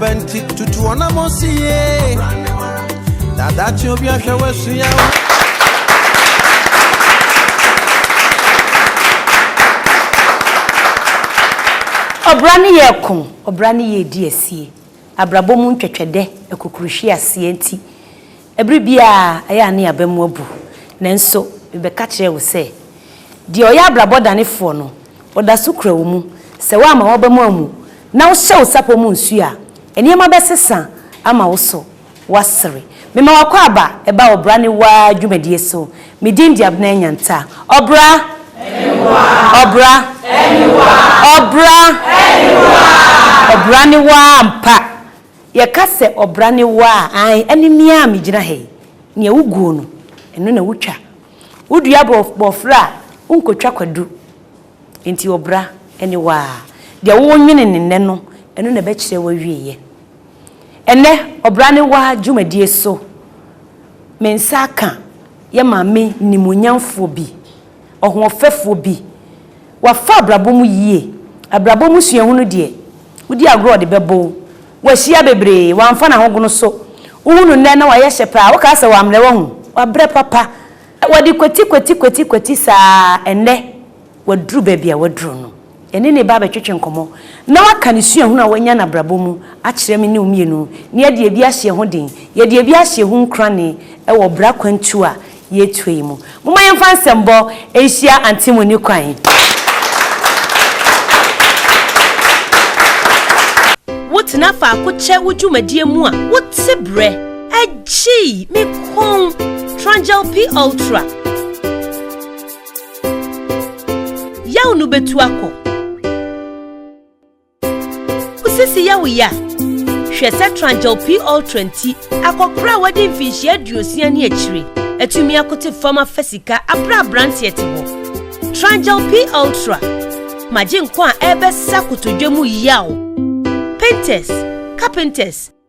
bɛnti tutu ɔnam osi yie dada kye obi ahwɛ wasu ya o. ɔbra ne yɛ ko ɔbra ne yɛ di asie abrabɔ mu ntwɛtwɛdɛ akukuruhwi aseɛ nti Bere biara ɛyɛ a na yɛaba mu abu, nanso mebɛka kyerɛɛ wo sɛ, Deɛ ɔyɛ abrabɔ danefoɔ no, ɔda so kura wo mu. Sɛ woamma w'aba mu ammu na wohyɛ wo sapɔ mu nsuo a, nneɛma bɛsesa ama wo so woasere. Mema w'akwaaba ba ɔbra ne waa dwumadie so. Me din de Abena Nyanta. Ɔbra! Ɔbra! Ɔbra! Ɔbra ne waa ampa! Yɛka sɛ ɔbra ne wo a, ae, ɛne me a megyina ha yi. Nea woguo no, ɛno na wotwa. Wodua bɔɔfrɛ a, wonkotwa kwadu. Enti ɔbra ne wo a. Deɛ worenwene no nnɛ no, ɛno na ɛbɛkyerɛ w'awieeɛ. Ɛnnɛ, ɔbra ne wo a dwumadie so, me nsa aka yɛ Maame nimuonyamfoɔ bi. ɔhoɔfɛfoɔ bi. Wafa abrabɔ mu yie. Abrabɔ mu suahunu deɛ, wodi agorɔ a ɔde bɛbɔ wo. Wahyia bebree, wamfa n'ahogono so. Wohu no nnɛ na wayɛ hyɛ paa, wokaa sɛ wammrɛ wahu. Wabrɛ papa. Wɔde kwati kwati kwati kwati saa, ɛnnɛ waduru baabi a waduru no. Yɛne ne ba bɛtwetwe nkɔmmɔ na waka ne suahunu a wanya n'abrabɔ mu akyerɛ me ne wo mmienu na yɛadi ebi ahyɛ yɛn ho den. Yɛadi ebi ahyɛ yɛn ho nkuranee wɔ bra kwantuo a yɛretuo yi mu. Momma yɛmfa nsɛmbɔ nhyia Auntie Moni kwan yi. Wotena faako kyɛ wo dwumadie mu a, wote brɛ. Agyii! Me kɔn! Trangel P Ultra. Yaw no betu akɔ. Wo sisi yɛ wo ya. Hwɛ sɛ Tranjel P Ultra nti akɔkora a wadi mfinhyia aduosia ne akyire atumi akote fam afa sika abere a aberanteɛ te hɔ. Tranjel P Ultra ma gye nkwa a ɛrebɛsa kotodwe mu yaw. Painters, carpenters,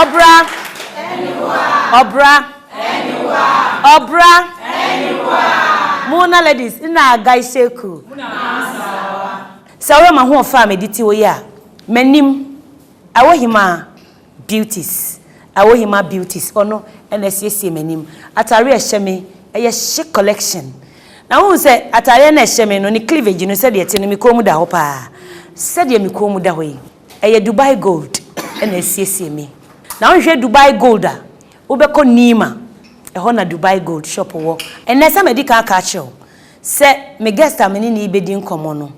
Ɔbra. Ɔbra. Ɔbra. Mo na ladies nna guy seku. Sɛ woyɛ m'ahoɔfɛ a mede te wo yɛ a, m'anim, Awɔhima Beauties, Awɔhima Beauties, ɔno na asiesie m'anim. Atadeɛ a ɛhyɛ me, ɛyɛ Chic Collection. Na wohu sɛ atadeɛ no a ɛhyɛ me no, ne cleavage no sɛdeɛ ɛte no, me kɔn mu da hɔ paa. Sɛdeɛ me kɔn mu da hɔ yi. Ɛyɛ Dubai Gold na asiesie me. Na wonhwɛ Dubai Gold a, wobɛkɔ Nima, ɛhɔ na Dubai Gold shop wɔ. Ɛnnɛ, sɛ madi kan aka akyerɛ wo sɛ me guest a me ne no rebɛdi nkɔmmɔ no,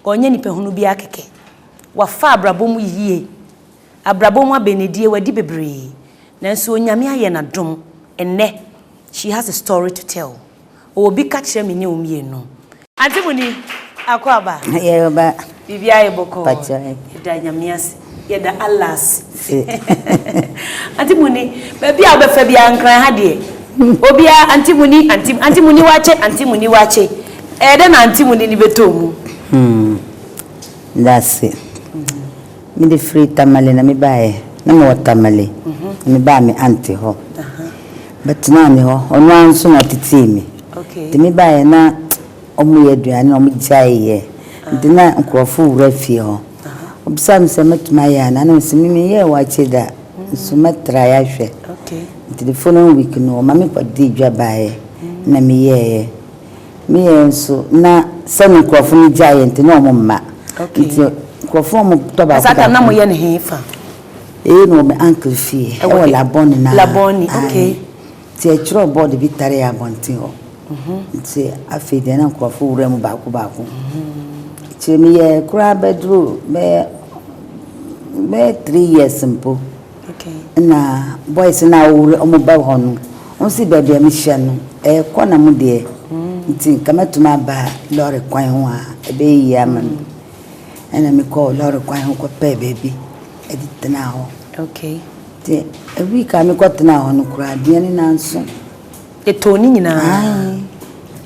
ɔnyɛ nipahunu biara kɛkɛ. Wafa abrabɔ mu yie. Abrabɔ mu abɛnedie, wadi bebree. Nanso Onyame ayɛ no adom, ɛnnɛ, she has a story to tell. Ɔwɔ bi ka kyerɛ me ne wo mmienu. Auntie mo ni Akwaaba. Yɛreba. Biribiara yɛ bɔkɔɔ. Pakyɛw. Yɛda Nyame ase. Yɛda Allah ase. Auntie mo ni, baabi a wo bɛfa biara Nkran ha deɛ obiara Auntie mo ni, Auntie, Auntie mo ni wakye, Auntie mo ni wakye. Ɛyɛ dɛ na Auntie mo ni no bɛtɔ mu. Hmm. Yɛda ase. Me de firi Tamale na me baeɛ. Na me wɔ Tamale na me baa me aunty hɔ. Bɛ tenaa me hɔ. Ɔno ara nso na ɔtetee me. Nti me baeɛ na ɔmo yɛ aduane na ɔmo gyae yɛ. Nti na nkorɔfo wura fie hɔ. Ɔbisaa me sɛ mɛtumi ayɛ anaa na me se me me yɛɛ waakye da nso mɛ try ahwɛ. Nti the following week no ɔma me kɔ dii dwa baeɛ na me yɛeɛ. Ne yɛn nso na sɛ ne nkurɔfo no gyae yɛn nti na wɔn mma. Okay. Nti nkurɔfo wɔn tɔ baako baako. Asata na mo yɛ ne he fa? Eyi na wɔ me uncle fie. Ɛwɔ e, Labɔni na. Labɔni, okay. Nti ɛtwerɛ board bi tare abɔnten hɔ. Mhm. Nti afei deɛ na nkurɔfo wura mu baako baako. Mhm. Akyire meyɛ koraa bɛduru bɛyɛ bɛyɛ three years mpo. Nna boys no a wɔwura wɔn ba hɔ no, wonnsi beebi a mihyia no, ɛyɛ kɔ na mo deɛ ntsi nka mɛtum aba lɔre kwan ho a ɛbɛyɛ yie ama me. Nna mekɔɔ lɔre kwan ho kɔpɛɛ beebi de tenaa hɔ. Ntsi week a mekɔtenaa hɔ no koraa, dua no naaso. Yɛtɔn ne nyinaa. Aane,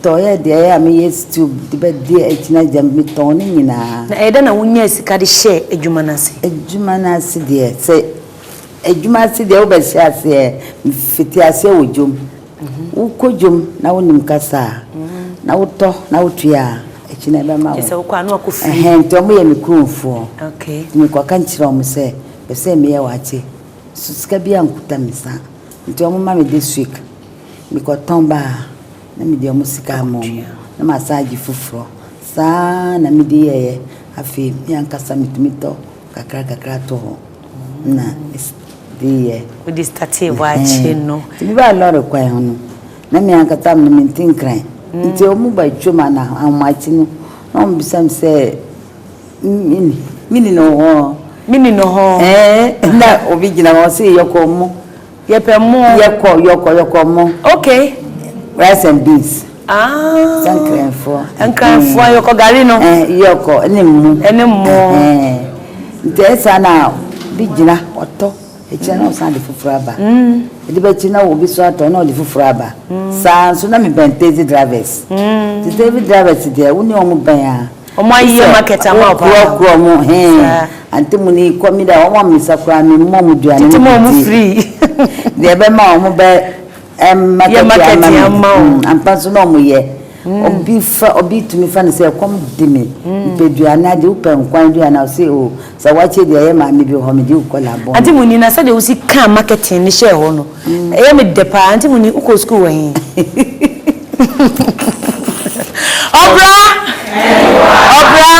tɔɔ yɛ deɛ ɛyɛ a me yɛ stew de bɛ di akyina gyam, me tɔn ne nyinaa. Na ɛyɛ dɛn na wo nyaa sika de hyɛɛ adwuma no ase? Adwuma no ase deɛ, sɛ adwuma ase deɛ wo bɛ hyɛ aseɛ, me fiti aseɛ wɔ dwom, wo kɔ dwom na wo nim kasa a, na wo tɔ na wo tua a, akyi no ɛbɛ ma wo. Kyɛ sɛ wo kɔ a na wakɔ firi. Ɛhɛn, nti ɔmo yɛ me kurom foɔ, nti me kɔ ka nkyerɛ ɔmo sɛ, bɛ sɛ me yɛ wakye. So sika biara nkuta me saa nti wɔn ma me this week me kɔ tɔn ba a na me de wɔn sika ama wɔn na ma saa agye foforɔ saa na me de yɛɛyɛ afei me ankasa me tumi tɔ kakra kakra to hɔ na de yɛ. Wo de startee hɔ akyi no. Ti me ba lɔre kwan ho no na me ankasa me me nti nkran nti wɔn ba twam ana ahomakye no na wɔn bisa me sɛ. Me ni no hɔ. Me ni no hɔ. Ɛɛ na obi gyina hɔ ɔse yɛkɔ mo. Yɛpɛ mo. Yɛkɔ yɛkɔ yɛkɔ mo. Okay. Rice and beans. Aa. Sɛ nkranfoɔ. Nkranfoɔ yɛkɔ gari no. Ɛɛ yɛkɔ ɛne mo. Ɛne mo. Ɛɛ nti ɛsa na bi gyina ɔtɔ ɛkyina na ɔsan de foforɔ aba. Ɛde bɛ kyi na obi so atɔ na ɔde foforɔ aba. Saa nso na me bɛn taxi drivers. Nti taxi drivers deɛ wo ne wɔn bɛn a. Wɔayeyɛ market ama wo paa. Wosɛ wo korɔ mo he antemuni kɔ me de a wɔn ammisa koraa me mmɔ wɔn aduane no bi ndie. Deɛ ɛbɛma a wɔn bɛ yɛ market he ama wo. Ampa nso na wɔn yɛ. Obi fa obi tumi fa no sɛ ɛkɔm de me mepɛ aduane adeɛ wopɛ nkwan aduane a ɔse oo. Sɛ wɔakyɛ bi a, ɛyɛ maame bi wɔ hɔ, mede wo kɔ n'abɔn. Auntie Muni, na sɛdeɛ wosi kaa marketing no hyɛɛ hɔ no, ɛyɛ me dɛ paa. Auntie Muni, wokɔɔ sukuu wɔ he? Ɔbra! Ɔbra!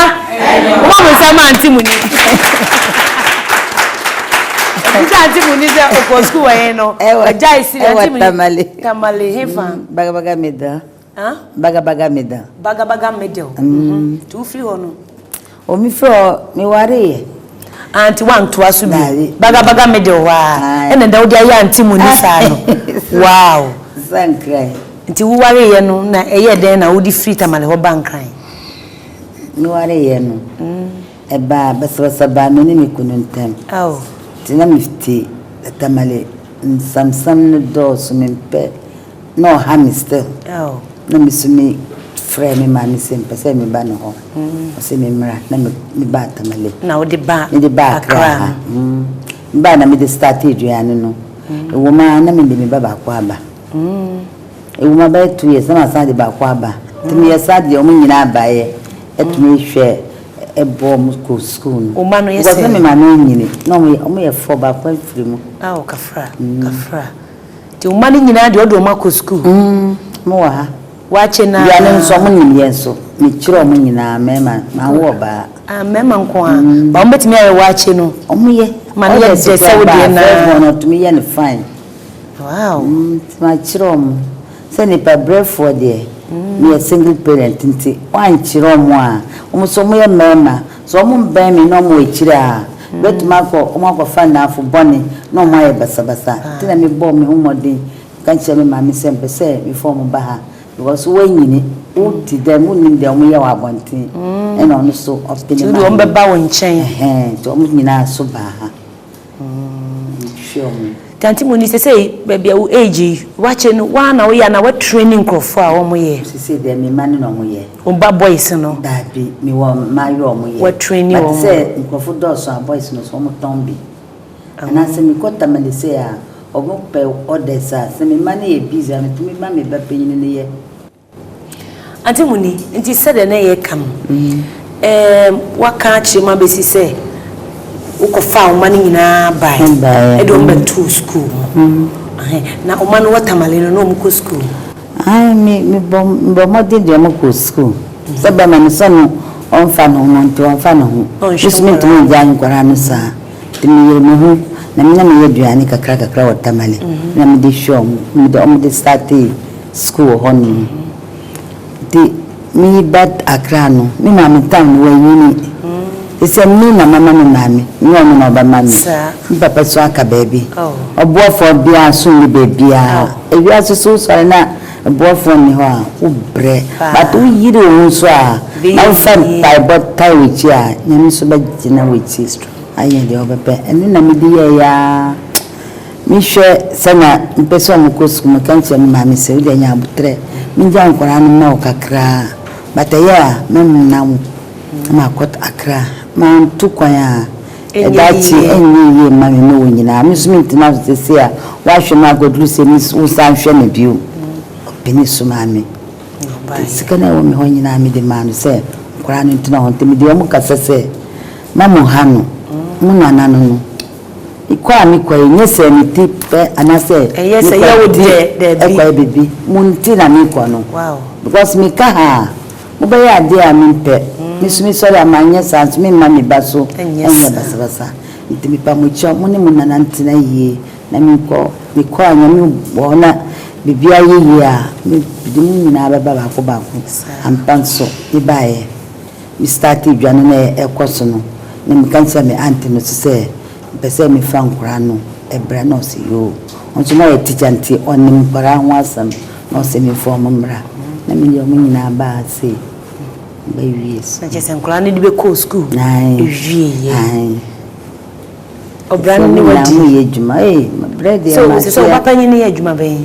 Momma mo nsa mma Auntie Muni. Bisa Auntie Muni sɛ ɔkɔɔ sukuu wɔ he no, ɔgyae sini. Auntie Muni, Tamale, hefa? Bagabaga Medɔ. Huh? Bagabaga middle. Bagabaga middle. Mm. Mm -hmm. Nti wofiri hɔ no? O mefiri hɔ, mewareeɛ. Ah, nti woantoa so bi. Bagabaga middle hɔ a. Ɛna da wode ayɛ ante mu ni saa no. Wow. Sa nkran. Nti wowareeɛ no na ɛyɛ dɛn na wode firi tamale hɔ ba nkran? Mewareeɛ no. Mm. Ɛbaa basabasa baa me ne me kunu ntam. Oh. Nti na mefiti tamale nsamsam no dɔɔso mempɛ. Na ɔha me still. Na me so me frɛ me maame sɛ mepɛ sɛ meba ne hɔ. Ɔse me mmra na me baa Tamale. Na wo de ba Accra. Me de ba Accra ha. Me baa na me de start aduane no. Ɛwɔ mu ara na me de me ba baako aba. Ɛwɔ mu abɛyɛ two years na ma san de baako aba. Nti me yɛ saa deɛ wɔn nyinaa baeɛ ɛtumi hwɛ ɛboɔ wɔn kɔ school no. Wɔn ma no yɛ sɛ. Because na me maame anyini na wɔn yɛ four baako afiri mu. Awo kafra kafra. Nti wo mma no nyinaa deɛ wode wɔn akɔ sukuu? Mm, wɔn wɔ ha. Woakye no a? Bia no nso wɔn nim yɛn nso. Me kyerɛ wɔn nyinaa, mmarima, manwo ɔbaa. Ah, mmarima nko ara. Mm. Ba wɔn bɛtumi ayɛ woakye no? Wɔn yɛ. Ma no yɛ dɛ sɛ wo deɛ naa. First born no, wɔtumi yɛ no fine. Wow. Mm, nti makyerɛ wɔn. Sɛ nipa brɛfoɔ deɛ meyɛ single parent nti wankyerɛ wɔn a wɔn nso wɔyɛ mmarima sɛ wɔn mmɛn me na wɔwɔ akyire a bɛtumi akɔ wɔn akɔfa nnamfo bɔne na wɔn ayɛ basabasa nti na mebɔɔ me ho mmɔden ka kyerɛ me maame sɛ mpɛ sɛ mefa wɔn ba ha because woanyini wote dɛm wonnim deɛ wɔyɛ wɔ abɔnten ɛna ɔno nso ɔpene maame nti wɔn bɛba wo nkyɛn ɛhɛn nti wɔn nyinaa nso baa ha. hwɛ ɔmo. Tanti Moni sesei baabi a wo age yi wakyɛ no woaa na woyɛ anaa wa traini nkorɔfoɔ a ɔmo yɛ. Sesei deɛ me mma ne na ɔmo yɛ. Wo mma boys no. Daabi me wɔ mmaayewa a ɔmo yɛ. Wa traini ɔmo. But sɛ nkorɔfoɔ dɔɔso a boys no so ɔmo tɔn bi. Anaa sɛ me kɔ Tamale sei a ɔmo pɛ orders a sɛ me mma no yɛ busy a me tumi ma me ba panyini no yɛ. Ante mu ni, nti sɛdeɛ na yɛreka no, ɛɛm, woaka akyerɛ mu abɛsi sɛ wokɔfaa wo mma no nyinaa baeɛ Baeɛ, de wɔn mm. bɛtoo sukuu mu. Mm. Ahe, na wo mma no wɔ Tamale no, na wɔkɔ sukuu? Ae, me, mebɔ, mebɔ mmɔden deɛ mokɔ sukuu. Mm. Sɛ bɛma no sɛ no ɔmfa ne ho ma nti ɔmfa ne ho. Ɔnhwɛ Mesumi ntumi ngyae nkwadaa no saa. Nti meyere me ho na me na meyɛ aduane kakra kakra wɔ Tamale. Mm-hmm. Na mede hwɛ wɔn, mede wɔn de startee School hɔ nom. Nti meyi ba Accra no, me maame tam no wanyini. Efisɛ me na mama me maame, nyɛ ɔno na ɔbɛma me. Me papa so aka baabi. Ɔboafoɔ biara so nni baabiara. Ewiase so wosɔre na boafoɔ nni hɔ a, wobrɛ. But woyere wo ho so a, na wofa mpaebɔ tae w'akyi a, Nyame nso bɛgyina w'akyi ayɛ deɛ ɔbɛpɛ. Ɛno na mede yɛeɛ ara. Me hwɛ sɛ na me pɛ sɛ ɔmo kɔ sukuu me ka kyerɛ me maame sɛ wode anya aboterɛ me gya nkwadaa no ma wo kakraa but ɛyɛ a mɛ mena wo na ma kɔ Accra manto kwan a ɛdaakye ɛnyɛ yie mma me ne wo nyinaa me nso me ntena so sɛsɛɛ a w'ahwɛ me akɔduru sɛ me wo san hwɛ me bio ɔpɛni so maame nti sika no a ɛwɔ me hɔ nyinaa me de maa no sɛ nkwadaa no ntena hɔ nti me de ɔmo kasa sɛ ma mo ha no mo nana no no Ekɔ a me kɔ yi, nyɛ sɛ me ti pɛ anaasɛ me kɔ bibi ɛkɔ yɛ bibi, mo nti na me kɔ no. Because me ka ha a, mo bɛyɛ adeɛ a me mpɛ. Me nso me sɔre a ma nyɛ saa nso me mma me ba so nyɛ basabasa. Nti me pa mo kyɛw, mo ne mo nana ntena yie na me nkɔ. Me kɔ a Nyame bɔ na bibi ayɛ yie a, me de mo nyinaa bɛba baako baako. Ampa nso me baeɛ. Me startee dwane no a ɛkɔ so no na me ka kyerɛ me aunty no so sɛ mepɛ sɛ me fa nkwadaa no bra na ɔse yoo ɔno nso na ɔyɛ teacher nti ɔnim nkwadaa ho asɛm na ɔse me fa ɔmo mmra na me de ɔmo nyinaa baa se ba wie so. Na kyerɛ sɛ nkwadaa no de bɛ kɔɔ school ewie yɛ. Ɔbra no ne wadi. Ɛsɛ mo yɛ adwuma ee me brɛ deɛ ma tia. So sɛ sɛ ɔba panyin no yɛ adwuma bɛn.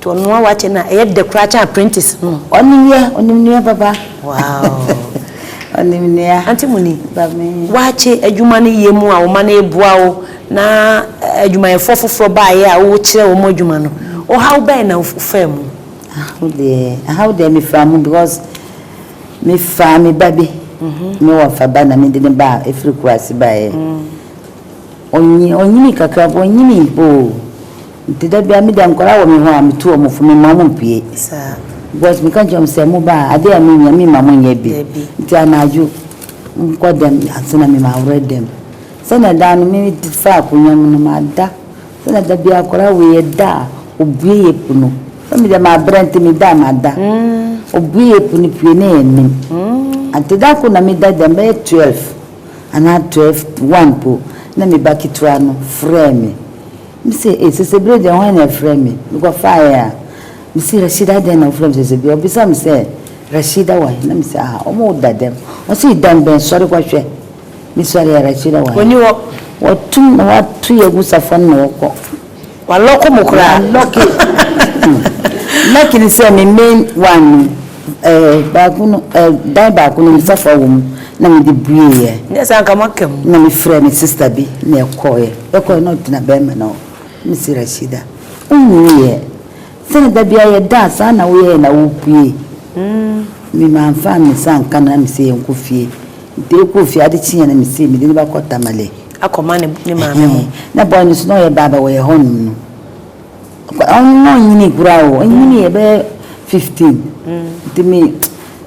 To ɔno a wakyɛ no a ɛyɛ dɛ koraa kyɛn apprentice no. Ɔnim yɛ, ɔnim nua baba. Wow! Ɔnim nua. Auntie Muni, woakye adwuma no yɛ mu a wo ma no reboa wo na adwumayɛfoɔ foforɔ baeɛ a wokyerɛ wɔn adwuma no, ɔhaw bɛn na wofaa mu? Ahaw deɛ, ahaw deɛ mefaa mu because mefaa me ba bi, mewɔ fa ba na mede no baa ɛfiri Kumasi baeɛ. Ɔnyin, ɔnyinii kakra mpo, ɔnyinii oo. Nti da biara me deɛ nkwadaa wɔ me hɔ a, metu wɔn fo, memma wɔn mpue. Saa. Because meka kyerɛ wɔn sɛ, moba a, adeɛ a monnyɛ, memma monnyɛ bi. Dabi. Nti anadwo, monkɔ dɛm ansa na me maworɔ dɛm. Sɛdeɛ daa no me faa akonnwa mu no, mada. Sɛdeɛ da biara akwadaa wei, ɛda a, ɔbue yɛ pu no. Sɛ me deɛ mabrɛ nti meda a, mada. Ɔbue yɛ pu no pue na yɛnim. Nti da koro na meda dɛm, bɛyɛ twelve, anaa twelve to one mpo, na me ba ketewa no frɛɛ me. Mise, Ei, Sesebire deɛ hwan na ɛfrɛ me? Mekɔfaeɛ a, mese, Rashida adɛn na wofrɛ me Sesebire? Ɔbisaa me sɛ, Rashida wɔ he? Na mese, Ah, wɔwo da dɛm. Ɔse, Dan bɛn? Sɔre kɔhwɛ. Mesɔreeɛ a, Rashida wɔ he? Ɔnni hɔ. Wɔatum na wɔato yɛn agu safua no na wɔkɔ. Wa lock mo koraa. Wa lock hmm. Lucky ni sɛ me main one no ɛɛ eh, baako no ɛɛ eh, dan baako no nifa fa wɔ mu na me de bue yɛ. Nyɛ sɛ anka mo aka mu. Na me frɛ me sista bi na ɛkɔ yɛ ɛkɔ yɛ na ɔtena bɛrima na ɔ me si Rashida. Ohun yɛ sɛnɛ dabi ayɛ da saa na woyɛ na wopue. Mm. Me ma nfa me sa nka na me sɛ yɛn kɔ fie. Nti ekɔ fie ade kyi yɛn na me sɛ me de ne ba kɔ tamale. akɔma ne ne maame ho. Ɛhɛn, na boy no so na ɔyɛ baa bɛ wɔyɛ hɔnom no, ɔkɔ ɔno na ɔnnyinii koraa o, ɔnnyiniiɛ bɛyɛ fifteen, nti me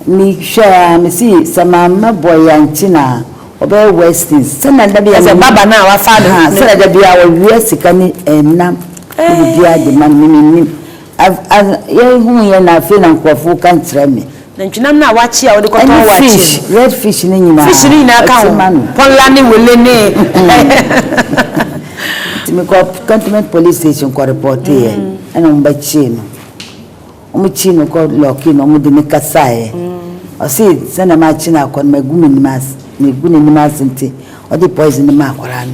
me hwɛɛ aa me see sɛ mamma boy yi ankye no aa ɔbɛyɛ worse things, sɛdeɛ da biaa Ɛsɛ baba no a wafaa ne ho, ne. Sɛdeɛ da biaa ɔwea sika ne ɛnam ne biribiaa de ma no me mennim. Yɛ hu yɛ na afei na nkurɔfo ka kyerɛ me. Nantwinam no a wɔakyea a wode kɔtɔn wɔ akyɛ mu. Ɛne fish, red fish no nyinaa. Fish no nyinaa ka ho. Pɔlla ne wele ne. Nti me kɔ cantonment police station kɔ reporte yɛ, ɛna wɔn ba kyee no. Wɔn kyee no kɔ lɔki no, wɔn de ne kasaa yɛ. Ɔsi sɛ na ma kye no akɔ no ma gu me nim ase, me gu ne nim ase nti, ɔde poison no ma akwaraa no.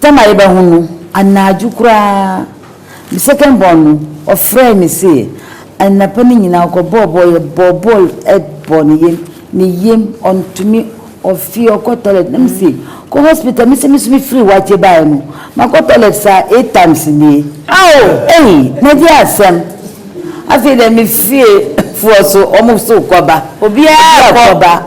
Tam a yɛbɛho no, anadwo koraa me second born no ɔfrɛɛ me se anapa no nyinaa ɔkɔbɔɔ bɔɔl, yɛbɔɔ bɔɔl bɔɔ ne yam, ne yam, ɔntumi, ɔfee, ɔkɔ toilet na me se kɔ hospital, me se me nso me firi Wakye baeɛ no makɔ toilet saa eight times nie. Ao! Ei! Magye asɛm! Afei deɛ me fie foɔ nso wɔn nso rekɔba, obiara rekɔba.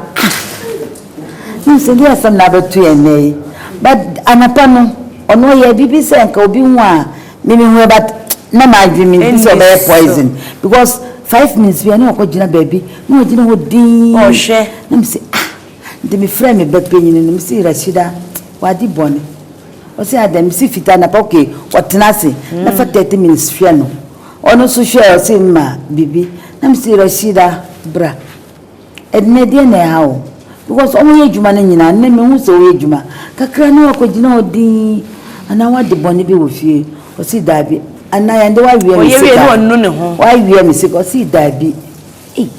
Wonim sɛdeɛ asɛm no abɛto yɛn nnɛ yi but anapa no ɔno ɔyɛɛ biribi sɛ nka obi hu a me mehu yɛ but na m'adwene me hu sɛ ɔbɛyɛ poison because five minutes bi a na ɔkɔ gyina baabi na ɔgyina hɔ dinn ɔhwɛ na me se ah nti me frɛ me ba panyin no me se Rashida wadi bɔne ɔse adɛn me se fita anapa okay ɔtena ase mm. na fa thirty minutes hwɛ no ɔno nso hwɛ ɔse ma biribi na me se Rashida bra Ɛnɛ deɛ na ɛha wo because wɔyɛ adwuma no nyinaa nnɛ mehu sɛ woyɛ adwuma kakra na wakɔgyina hɔ dinn anaa wade bɔne bi wɔ fie ɔse daabi anaa yɛnde waweɛ me sika waweɛ me sika ɔse daabi ei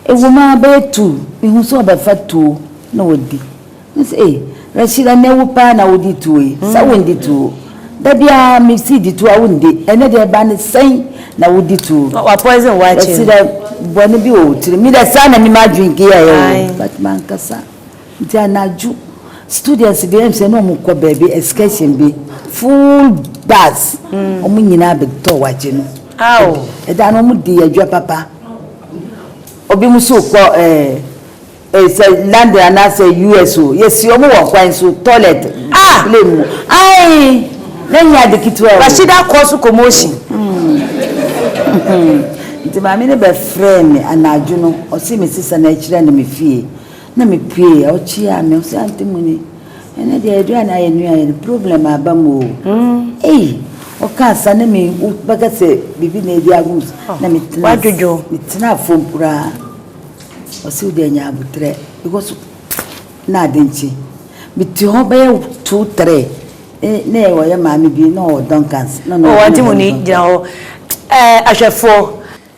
ɛwom ara bɛyɛ two mehu sɛ ɔbɛfa two na wadi Me se ei Rashida ɛnɛ wo paa na wodi tuo yi sɛ wondi tuo da biara me si di tuo a wondi ɛnɛ deɛ ɛba ne sɛn na wodi tuo Wa poison wa kye Rashida bɔne bi wɔ wo tirim me deɛ saa na me m'adwene keyɛ yɛ o but mankasa nti anadwo students deɛ ɛm sɛ na ɔmo kɔ baabi excursion bi full bus ɔmo nyinaa bɛtɔ wakye no Aw ɛda no ɔmo di adwa papa obi mo so kɔ ɛɛ Sɛ London anaasɛ US o, yɛsi wɔn wɔ kwan so, toilet, plane mu. Ae! Na nyɛ ade ketewa o. Rashida kɔɔ so kɔmoohyin. Nti maame no bɛfrɛɛ me anadwo no, ɔse me sesa na akyire na mefie. Na mepuee, ɔkyeaa me, ɔse Aunty Muni, ɛnnɛ deɛ aduane a yɛn nua yɛ no, problem aba mu o. Ei! Ɔkaa saa na me, wobɛka sɛ biribi na adi agum so. Na metena, metena fam koraa. Ɔse wo deɛ nya aboterɛ because na ade nkye mete hɔ bɛyɛ two three na yɛ ɔyɛ maame bi na ɔwɔ Duncans na ɔno wagye mu ni gyina hɔ ɛɛ ahwɛfoɔ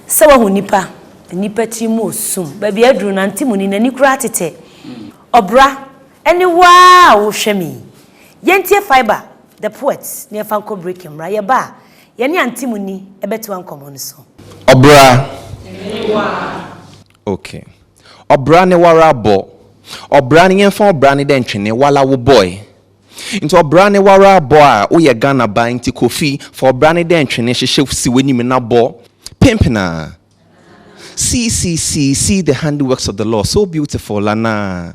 sɛ wahu nipa nipa tiri mu osum baabi aduru na nte mu ni n'ani koraa tetɛ ɔbra ɛne waa a wohwɛ me yi yɛntie fibre the poets na yɛfa nkɔ break mmra yɛba a Yɛne Antimony bɛtoa nkɔmmɔ no so. Ɔbra ne wara. Ok. Ɔbra ne wara bɔ. Ɔbra ne yɛnfa ɔbra ne dɛ ntwene wala wo bɔe. Nti ɔbra ne wara bɔ a wo yɛ Ghana ba nti Kofi fa ɔbra ne dɛ ntwene hyehyɛ si w'anim na bɔ penpenaa. See see see see the handiworks of the Lord so beautiful lanaa.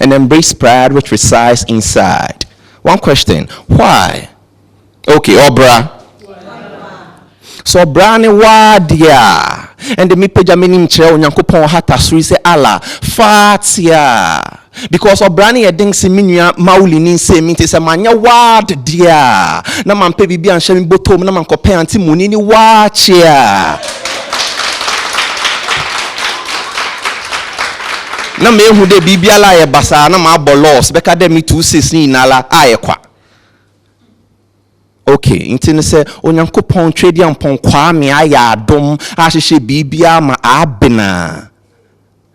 and embrace pride which resides inside. One question, why? Okay, ɔbra. So ɔbra ne waa deɛ a, ɛnde mepagya m'anim kyerɛ Onyankopɔn hata soro yi sɛ Allah, fa tea. Because ɔbra ne yɛ den se me nua Mauli ne nsɛm nti sɛ manyɛ ward deɛ a, na mampɛ biribi anhyɛ me bɔtɔm na mankɔpɛ ante muni ne waa kyea. na mehu dɛ biribiara ayɛ basaa na mabɔ loss bɛka dɛ me two six ne nyinara ayɛ kwa. Ok, ntsi no sɛ Onyankopɔn Tweduampɔn Kwame ayɛ adom ahyehyɛ biribiara ma aaben a,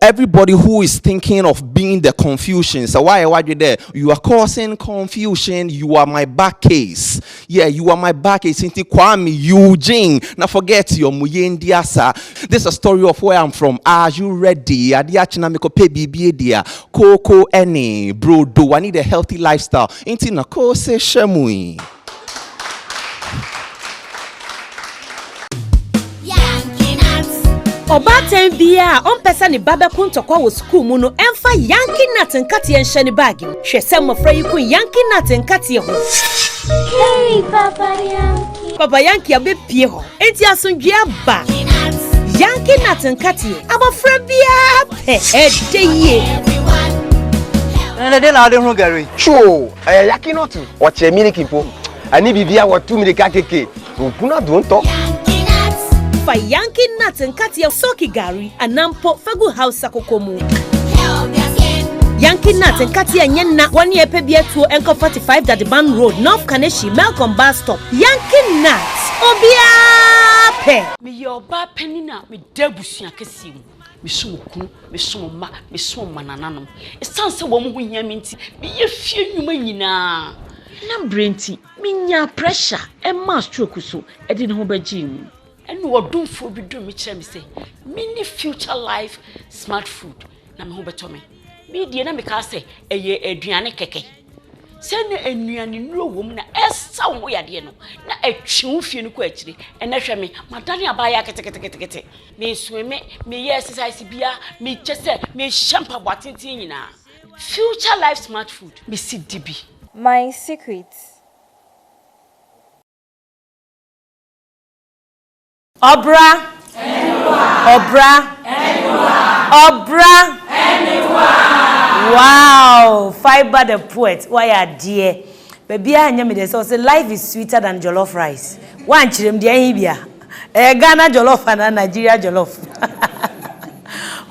everybody who is thinking of being the confusion, sɛ woayɛ w'adwen dɛ you are causing confusion, you are my back case, Yeah, you are my back ace nti Kwame Eugene na forget your mu yɛndi asa This a story of where I'm from Are you ready? Ade akye na mekɔpɛ biribi adi a Kooko ɛne brodo I need a healthy lifestyle nti na kose hyɛ mu yi Ɔbaatan biara a ɔmpɛ sɛ ne ba bɛko ntɔkwa wɔ sukuu mu no mfa Yankee Nut nkateɛ nhyɛ ne baage mu. Hwɛ sɛ mmɔfra yi ko Yankee Nut nkateɛ ho. Hey, Papa Yankee. Papa Yankee abɛpie hɔ, enti asomdwoeɛ aba. Yankee Nut nkateɛ, abɔfra biara pɛ, ɛdɛ yie. ɛnɛ dɛ na wode ho gari too ɛyɛ yaki no to wɔkyerɛ miliki mpo ɛne biribia wɔto mirika keke Ohun adontɔ. Yankee nuts. Fa Yankee nuts nkateɛ soki gari anaa mpo fa gu Hausa koko mu. Help your skin. Yankee nuts nkateɛ nyɛ nna wɔ ne ɛpɛ bi atuo nkɔ 45 Dadeban Road, North Kaneshie, Melcom bus stop. Yankee nuts, obiara pɛ. Meyɛ ɔbaa panin a meda abusua kɛseɛ mu. Mesom okunu, mesom mma, mesom mmanananom. Ɛsiane sɛ wɔn ho hia me nti, meyɛ fie nnwuma nyinaa. Ná berɛ nti, Menyaa pressure, ɛmaa stroke nso de ne ho bɛgyee mu. Ɛnna ɔdomfoɔ bi duu me kyerɛɛ me sɛ menni Future Life Smart Food na me ho bɛtɔ me. Medie na mekaa sɛ, Ɛyɛ aduane kɛkɛ. Sɛ na nnuanennuro wom na ɛsa wo ho yadeɛ no, na ɛtwe wo fie no kɔ akyire. Ɛnnɛ hwɛ me, madane abaayewa keteketekete. Mesweme, meyɛ exercise biara, mekyɛ sɛ mehyɛ mpaboa tenten nyinaa. Future life smart food. Mesi di bi. My secret. Ɔbra. Anywhere. Ɔbra. Anywhere. Ɔbra. Anywhere. Wow! Fibre the poet, woayɛ adeɛ. Baabiaa nyɛ me dɛ sɛ ɔse life is sweeter than jollof rice wankyerɛm deɛ ɛhe bia ɛyɛ Ghana jollof anaa Nigeria jollof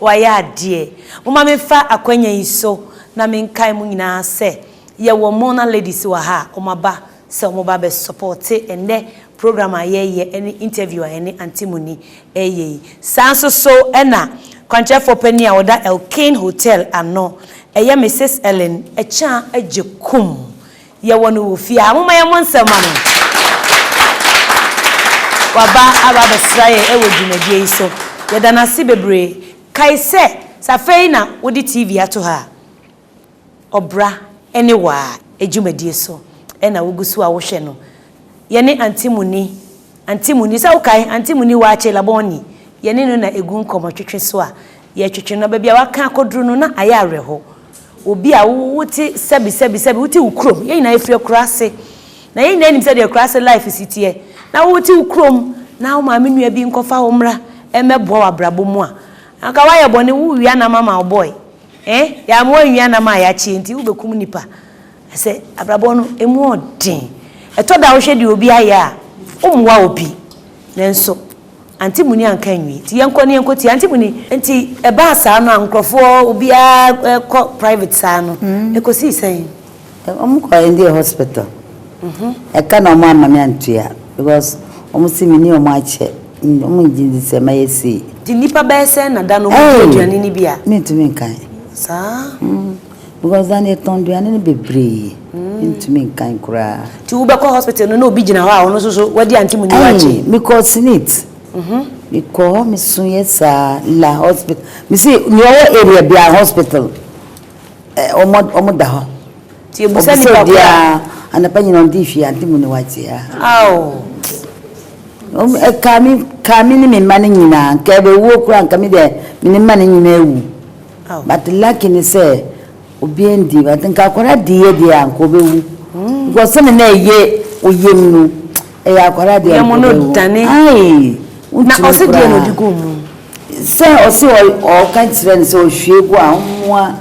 wayɛ adeɛ moma me fa akwanya yi so na me nkae mo nyinaa sɛ yɛwɔ Mona ladies wɔ ha a ɔmo aba sɛ ɔmo ba bɛ supporte ɛnɛ program a yɛreyɛ ne interview a yɛne Auntie Muni reyɛ yi. Saa nso so na kwankyerɛfoɔ panin a ɔda Elkane Hotel ano, ɛyɛ Misis Ellen Akyang Agyekum. Yɛwɔ no wɔ fie ha. Momma yɛmmɔ nsam mma no. Waba aba abɛsra yɛn wɔ dwumadie yi so. Yɛda no ase bebree. Kae sɛ, sɛ afei na wode TV ato ha a, ɔbra ne waa dwumadie so na wogu so a wohwɛ no. Yɛne Aunty Muni, Aunty Muni, sɛ wokae Aunty Muni Waakye Labɔnni, yɛne no na ɛgu nkɔmmɔtwetwe so a yɛtwetwe no. Baabi a waka akɔduru no na ayɛ awerɛho. Obi a wote sɛbi sɛbi sɛbi, wote wo kurom, yɛn nyinaa firi akuraase na yɛn nyinaa nim sɛdeɛ akuraase life si teɛ na wote wo kurom na wo maame nua bi nkɔfa wo mmra mmɛboa wo abrabɔ mu a, anka woayɛ bɔne, wowia nam ama wo boy. Eh yɛamoa anwia nam a yɛakye nti wobɛkum nnipa ɛsɛ abrabɔ no ɛmu ɔden ɛtɔ da wohwɛ deɛ obi ayɛ a wommoa obi nanso Auntie Muni anka anwie nti yɛnkɔ na yɛnkɔ tie Auntie Muni nti ɛbaa saa no a nkorɔfoɔ obiara kɔ private saa no ɛkɔsii sɛn? Ɔmo kɔɛ no deɛ hospital ɛka na ɔmo ama me antua because ɔmo se mene ɔmo akyɛ ɔmo ngye ndi sɛ mɛyɛ sei. Gye nipa bɛyɛ sɛn na da no ɔmo di aduane no bi a? Ei mentumi nkan. Saa? Mm because da no yɛtɔn aduane no bebree mentumi nkan koraa. Nti wo bɛkɔ hospital no na obi gyina hɔ a ɔno nso so wadi ante mu ni wakye? Ei me kɔɔ senate me kɔɔ hɔ me suiɛ saa la hospital me se nea ɔwɔ area biara hospital. Ɛ, wɔda hɔ. Nti ebusa nipa koro a. Ɔbisa obiara, anapa nyinaa wɔn de hwie ade mu na wɔate a. Ao! Wɔn, ɛkaa me, kaa me ne me mma no nyinaa. Nka ɛbɛwuo koraa, nka me deɛ me ne mma no nyinaa awu. Ao! But lucky ne sɛ, obiara nndii, but nka akwadaa diiɛ deɛ a, nka ɔbɛwu. Because sɛdeɛ na ɛyɛ wo yam no, ɛyɛ akwadaa deɛ a nka ɔbɛwu. Wo yam no dane. Aii! Wontumi koraa. Na ɔse deɛ na ɔde guu mu. Sɛ ɔse ɔɔka kyerɛ no sɛ ɔhwie gu a ɔmmoa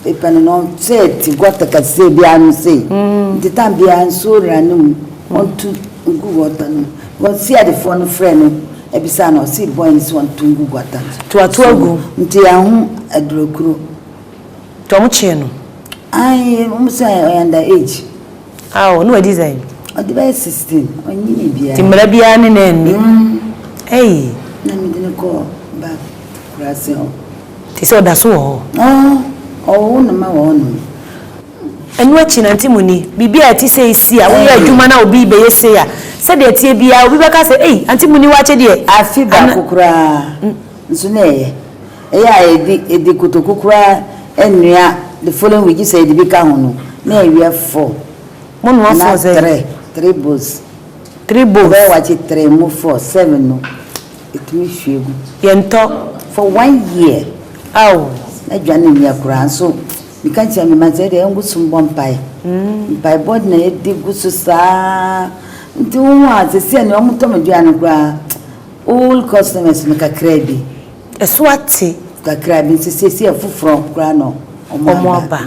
pepɛ no na ɔsɛ te gɔta kɛseɛ bi ano sei nti tan biaa nsuo ra no mu ɔnto ngu gɔta no mu ɔse adefoɔ no frɛ no ɛbisaa no ɔse boy no se ɔnto ngu gɔta toatoa gu nti yɛaho aduro kuro. Nti ɔmo kyee no. Ae ɔmo se ɔyɛ under age. Ao, na wadi dɛn? Ɔde bɛyɛ sixteen, ɔnnyinii biara. Nti mmara biara ne no anni? Mm. Ei! Na mede no kɔɔ Bath akuraase hɔ. Te sɛ ɔda so wɔ hɔ? Oo, ɔwoo no ma wɔnom. Ɛno akyi no, Auntie Muni, biribi a ɛte sei si a, woyɛ adwuma na obi rebɛyɛ sei a, sɛdeɛ ɛteɛ biara, obi bɛka sɛ, Ei, Auntie Muni, woakyɛ deɛ. Afe baako koraa nso na ɛyɛ. Ɛyɛ a yɛde yɛde kotoku koraa nnoa the following week gye sɛ yɛde bi ka ho no na awia four Mo noa anaa four sɛn? tre three bowls Three bowls. Yɛbɛyɛ wakye tre mu four seven no ɛtumi hwie gu Yɛntɔ. for one year Aw. na dwane nnyɛ koraa nso meka kyerɛ me mma sɛ ɛdeɛ yɛngo so mbɔ mpaeɛ mpaebɔ na yɛde gu so saa nti wohu a seisei a nea wɔtɔ me aduane no koraa old customers no kakraa bi. So ate? Kakra bi nso siesie afoforɔ koraa na wɔn aba.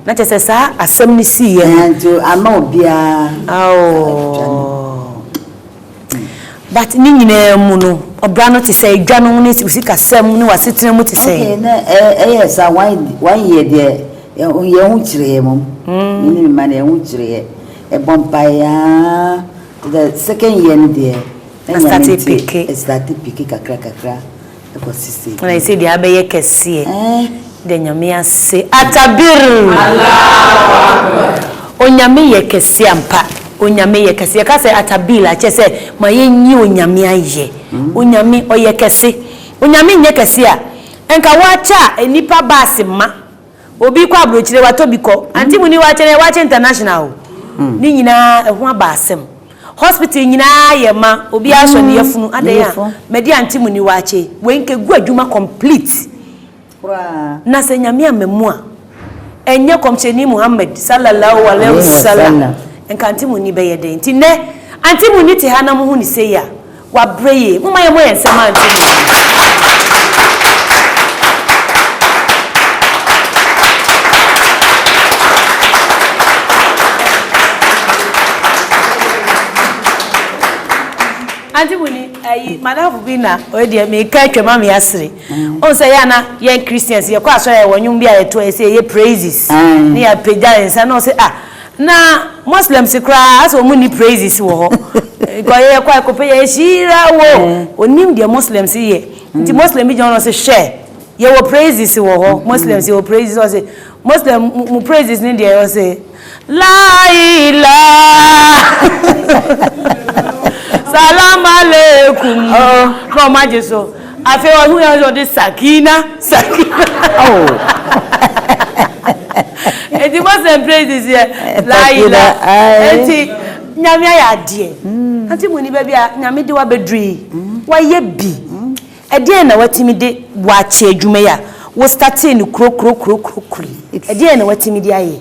Na kyerɛ sɛ saa asɛm no siiɛ no. Nti ama obiara. But ne nyinaa mu no ɔbra no te sɛ edwa no ne sikasɛm ne w'asetena mu te sɛ. Okay na ɛyɛ saa one year deɛ yɛn ho kyerɛɛ mom. Me ne me mma no yɛn ho kyerɛɛ ɛbɔ mpaeɛ aa the second year no deɛ. Na Nyame starte dze peke. estarte peke kakra kakra kɔ si sɛ Na bi. ɛsɛ deɛ abɛyɛ kɛseɛ Ɛɛh. da Nyame ase. Atabirr! Onyame yɛ kɛse ampa. Onyame yɛ kɛse. Yɛka sɛ Atabirr a, kyerɛ sɛ ma yɛnyi Onyame ayɛ. Onyame ɔyɛ kɛse. Onyame nyɛ kɛse a, nka woakyɛ a nnipa baase ma. Obi kɔ abrokyire watɔ bi kɔ ante mu ni wakye ne wakye international o ne nyinaa ɛho aba asɛm hospital nyinaa yɛ ma obi asɔ ne yafunu adɛn a mɛde ante mu ni wakye wei nka gu adwuma complete koraa na sɛ nyame ama mu a ɛnyɛ kɔmhyɛni Muhammad sallallahu alaihi wasallam nka ante mu ni bɛyɛ dɛn nti nɛ ante mu ni te ha na mo ho ne sei a Wabrɛ yie. Momma yɛmmɔ yɛn nsam ma nto nnwom yi. Ante mu ni ayi madafo bi na ɔyɛ deɛ meka atwa ma me asere. Ɔn sɛ yɛ na yɛn Christians yɛkɔ asɔre a yɛwɔ nnwom bi a yɛto a yɛsɛ yɛyɛ praises ne yɛapagya nsa na ɔsɛ ah Na Muslims koraa asɛ wɔn nni praises wɔ hɔ. Because yɛyɛ kɔ ɛkɔpɛ yɛ nhyira wo. Onim deɛ Muslims yɛ. Nti Muslim bi gyina hɔ na ɔse hwɛ yɛ wɔ praises wɔ hɔ. Muslims yɛ wɔ praises ɔse Muslim mo praises ne deɛ ɔse lailah Salam aleikum na wɔn agye so. Afei ɔhunu yɛ ɔsɛ ɔde Sakina Sakina Eti mo sɛ praises yɛ Laila Eti Nyame ayɛ adeɛ Ante mo ni baabi a Nyame de wo abɛduru yi Wayɛ bi Ɛdeɛn na watumi de wo akyɛ adwuma yi a wo startee no kuro kuro kuro kuro kuro yi Ɛdeɛn na watumi de ayɛ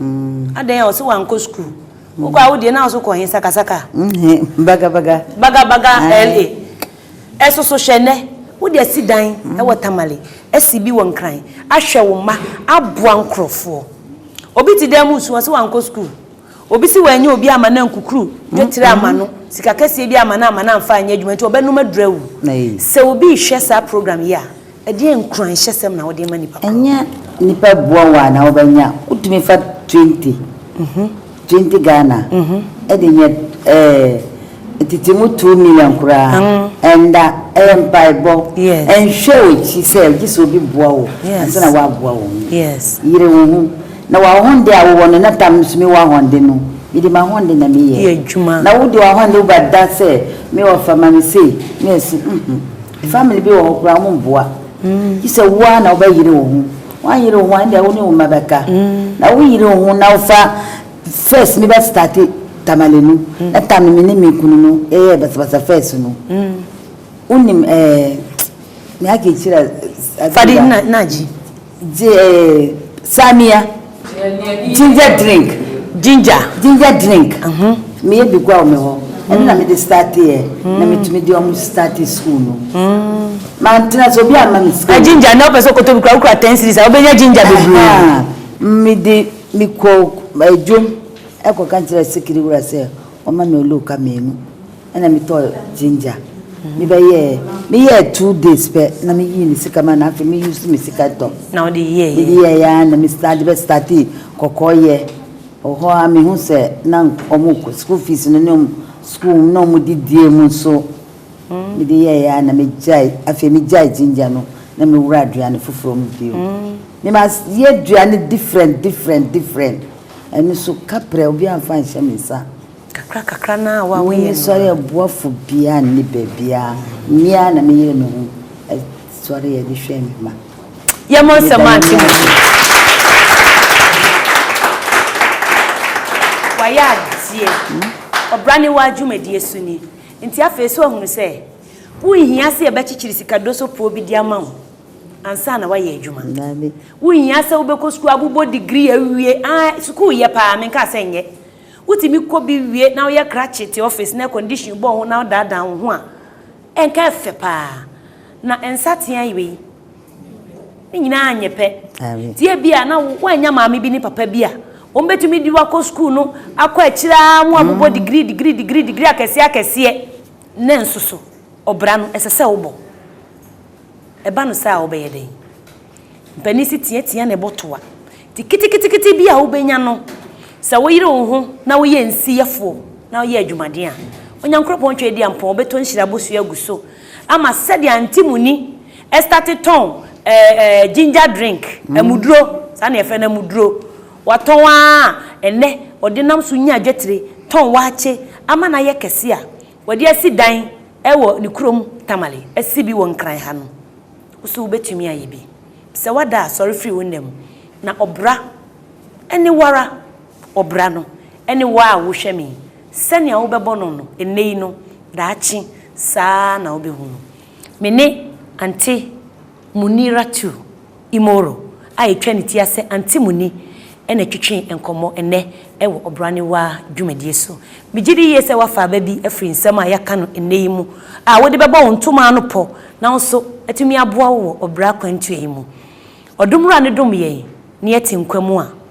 Adɛn a ɔse wankɔ school? Wokɔ a wodeɛ na woso kɔ he sakasaka? Bagabaga. Bagabaga LA. Ɛsoso hwɛ nɛ wode asi dan wɔ Tamale, asi bi wɔ Nkran, ahwɛ wo mma, aboa nkorɔfoɔ. Obi te dan mu resu ɔse wankɔ school. Obi se wanyɛ obi amma no ankukuru dwetire amma no, sika kɛseɛ bi amma no amma no amfa anyɛ adwuma nti ɔbɛnom aduru awu. Sɛ obi rehwɛ saa program yi a. Ɛdeɛn nkuranhyɛsɛm na wode rema nnipa korɔ? Ɛnyɛ nnipa bua wo a na wobɛnya. Wotumi fa twenty, twenty Ghana de nyɛ ɛɛ tete mu two million koraa. Ɛnda, ɛyɛ mpaebɔ. Ɛnhwɛ w'akyi sɛ gye sɛ obi boa wo ansa na woaboa wo ho. Yere wo ho. Na w'ahonde a wowɔ no na tam no so, mewɔ ahonde no, mede m'ahonde na meyɛ. Na wode w'ahonde woba da sɛ me ɔfa ma me sei, me ɛse, mm-hmm. Family bi wɔ hɔ koraa ɔmo mboa. Gye sɛ wo ara na wo bɛ yere wo ho. W'anyere wo ho a ɛndeɛ wo ne wo mma bɛ ka. Na wo yere wo ho na wo fa first no bɛ starte tamale no. Ɛtam no me ne me kunu no yɛyɛɛ basabasa first no. Wo nim ɛɛ me aka akyire a. Fadi na gye. Gi samia ginger drink. Ginger. Ginger drink. Me yɛ bi gua me hɔ. Ɛno na me de start yɛ. Na me tumi de ɔmo start school no. Ma n tena so obi a ma me sika. Na ginger na ɔpɛ sɛ ɔkɔtɔ bi kura wokura ten series a wobɛnya ginger bebree. Me de me kɔ dwom ɛkɔ ka kyerɛ sikiri wura sɛ ɔma me oluka mmienu. Ɛna me tɔɔ ginger me bɛ yɛɛ me yɛɛ two days pɛ na me yii me sika ma na afei me use me sika tɔ. Na ɔde yɛɛ yɛ. Me de yɛɛ yɛ na me start de bɛ starti kɔkɔɔ yɛ wɔ hɔ a me hu sɛ na ɔmo kɔ school fees no ne ɔmo school na ɔmo de die mu nso me de yɛɛ yɛ na me gyae afei me gyae ginger no na me wura aduane foforɔ mu bio me ma yɛ aduane different different different ɛno nso kaprɛ obi anfa nhyɛ me nsa. Kakra kakra no ara a wo a woyɛ no ara. Mensɔre aboafo biara nni baabiara. Me ara na meyere me ho sɔre a de hwɛ me mma. Yɛmmɔ nsɛm ma Auntie Musu. Wayɛ adeɛ. Ɔbra ne waa dwumadie so ni. Nti afei so ahunu sɛ wonhia sɛ yɛbɛkyekyere sika dosopoɔ bi de ama wo ansa na woayɛ adwuma. Wonhia sɛ wobɛkɔ sukuu abobɔ degree awie. Ae, sukuu yɛ paa, menkaa sɛ nyɛ. Wotumi kɔ bi wie na woyɛ krakye te ɔfis na kɔndihyin bɔ wo ho na wodaadaa wo ho a, ɛnka ɛfɛ paa. Na nsateaa yi wei, ne nyinaa anyɛ pɛ. Nti ebia na woannya maame bi ne papa bi a wɔbɛtumi de wo akɔ sukuu no akɔ akyire ara a wɔabobɔ degree, degree, degree, degree akɛseɛ akɛseɛ. Nanso so ɔbra no ɛsɛ sɛ wobɔ? Ɛba no saa a, wobɛyɛ dɛn? Mpanin se teatea ne bo toa nti keteketekete bi a wobɛnya no, sɛ woyere wo ho na woyɛ nsiyɛfoɔ na woyɛ adwumaden a, Onyankoropɔn Tweadiampɔn ɔbɛtɔ nhyira abosua agu so ama sɛdeɛ Antimuni starte tɔn ɛɛ ɛɛ ginger drink, amuduro, saa na yɛfrɛ no, amuduro, watɔn ara a ɛnnɛ ɔde nam so nya adwatire, tɔn waakye ama no ayɛ kɛse a. Wɔde asi dan wɔ ne kurom Tamale asi bi wɔ Nkran ha no wo so wobɛtumi ayɛ bi sɛ woada a sɔre firi wo nna mu na ɔbra ne woara ɔbra no ne wo a wohwɛ me yi sɛnea wobɛbɔ no no nnɛ yi no daakye saa na wobɛhu no me ne Ante Muniratu Imoro a yɛtwa ne ti ase Auntie Muni na ɛtwetwe nkɔmmɔ ɛnnɛ wɔ Ɔbraniwa dwumadie so. Megye di yie sɛ woafa aba bi afiri nsɛm a yɛaka no ɛnnɛ yi mu a wode bɛbɔ wo ntoma ano pɔ na wo nso atumi aboa wo wɔ ɔbra akwantuo yi mu. Ɔdomwura no dom yɛn na yɛte nkwa mu a.